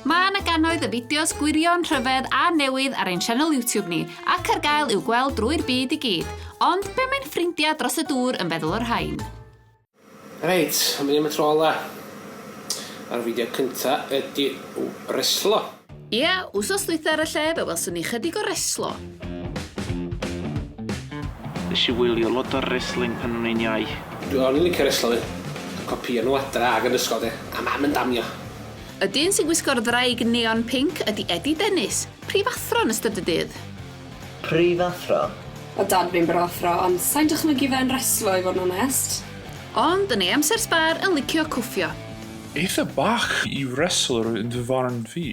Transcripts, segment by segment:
Mae yna gannoedd y fideos gwirion, rhyfedd a newydd ar ein sianel YouTube ni, ac ar gael i'w gweld drwy'r byd i gyd. Ond be mae'n ffrindiau dros y dŵr yn feddwl o'r rhain? Reit, am ddim y tro ola. A'r fideo cynta ydi reslo. Ia, wsos dwytha ar y lle fe welson ni chydig o reslo. Nes i wylio lot o resling pan o'n i'n iau. Dwi on yn licio reslo fi. Copïo nhw adra ag yn ysgol de, a mam yn damio. Y dyn sy'n gwisgo'r ddraig neon pinc ydi Eddie Dennis, prifathro yn ystod y dydd. Prifathro. O dad fi'n brathro ond sai'n dychmygu fe yn reslo i fod yn onest. Ond yn ei amser sbâr yn licio cwffio. Eitha bach i wrestlwr yn fy farn fi.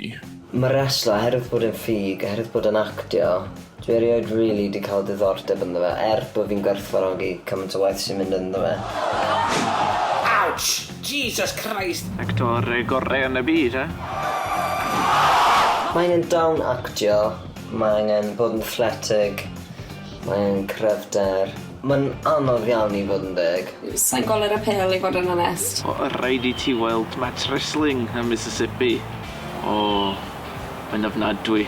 Mae reslo oherwydd bod e'n ffug, oherwydd bod e'n actio, dwi erioed rili 'di cael diddordeb ynddo fe er bod fi'n gwerthfawrogi cymaint o waith sy'n mynd ynddo fe. Ouch! Jesus Christ! Actor gorau yn y byd, eh? Maen nhw'n dal yn actio, Mae angen bod yn athletic, mae angen cryfder. Mae'n anodd iawn i fod yn deg. Sa i'n gweld yr apêl i fod yn onest. O rhaid i ti weld match wrestling ym Mississippi. O, mae'n ofnadwy.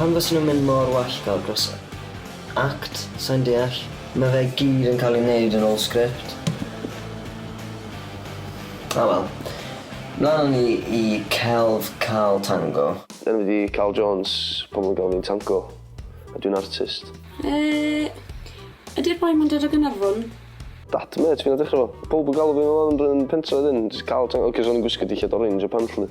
Pam fysen nhw'n mynd mor wallgo dros act? Sai'n deall. Mae fe gyd yn cael ei wneud yn ôl sgript. O wel. Mlaen â ni i celf Carl Tango. Enw fi 'di Carl Jones, pobl yn galw fi'n Tango, a dwi'n artist. Yy, ydi'r boi 'ma'n dod o Gaernarfon? Dat, mêt fi nath ddechra fo. Powb yn galw fi fel 'na yn y pentre 'dyn, jyst Carl Tango, 'c'os o'n i'n gwisgo dillad orange a pant 'lly.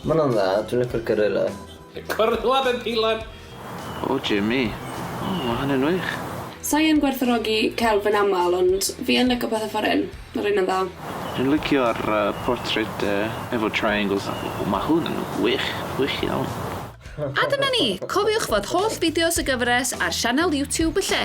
Ma hwnna'n dda, dwi'n licio'r gorilla. Gorilla mewn peilon! O Jimmy. O ma hynny'n wych. Sai yn gwerthfawrogi celf yn aml ond fi yn lico petha foreign. Ma reina'n dda. Dwi'n licio'r portrait efo triangles a o ma hwn yn wych, wych iawn. A dyna ni! Cofiwch fod holl fideos y gyfres ar sianel YouTube y lle.